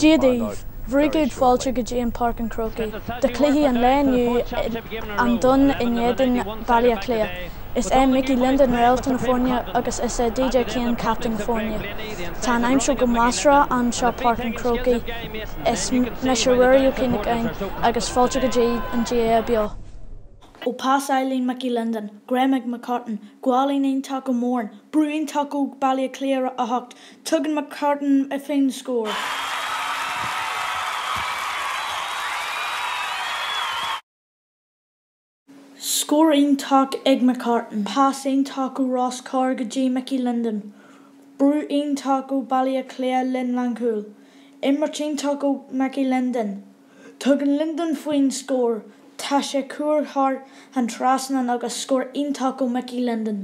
Dia daoibh! Bhur gcéad fáilte go dtí an Páirc an Chrócaigh do chluiche an lae inniu An Dún in éadan Baile Átha Cliath. Is é Mickey Linden réalta na foirne agus is é DJ Kane captaen na foirne. Tá an aimsir go measartha anseo Páirc an Chrócaigh. Is mise Ruairí Ó Cuinneagáin agus fáilte go dtí an GAA Beo. Ó pas álainn Mickey Linden, greim ag McCartan, gualainn iontach ó Moran, brú iontach ó Baile Átha Cliath ach, Tugann McCartan faoin scór. Scór iontach ag McCartan, pas iontach ó Ross Carr go dtí Mickey Linden, brú iontach ó Bhaile Átha Cliath líne lánchúil, imirt iontach ó Mickey Linden. Tugann Linden faoin scór, tá sé curtha thar an trasnán agus scór iontach ó Mickey Linden.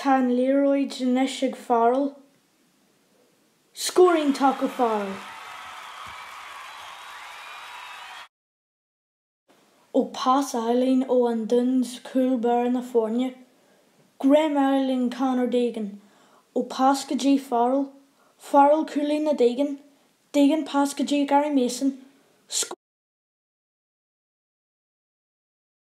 Tá an liathróid anois ag Farrell. Scór iontach ó Farrell. Ó pas álainn ó An Dún, cúl báire na foirne. Greim álainn Conor Deegan. Ó pas go dtí Farrell. Farrell gualainn ó Deegan. Deegan pas go dtí Gary Mason. Scór.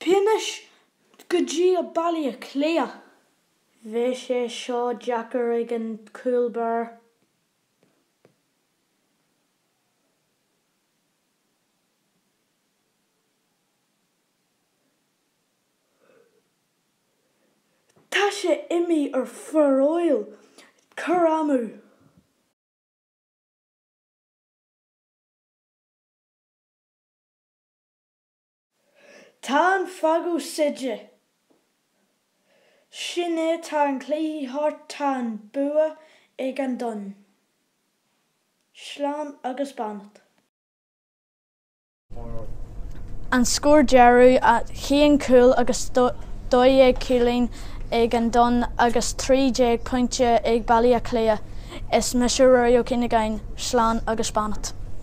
Fianaise go dtí a ballaí a cloíodh. Bheadh sé seo deacair ag an cúl beár. Tá sé imní ar Pharóil cur amú. Tá an fheadóg séidte. Sin é tá an cluiche thart tá an bua ag an Dún. Slán agus beannacht. An scór deireanach aon chúl agus dó dhéag cúilín ag an Dún agus trí déag pointe ag Baile Átha Cliath is mise Ruairí Ó Cuinneagáin. Slán agus beannacht.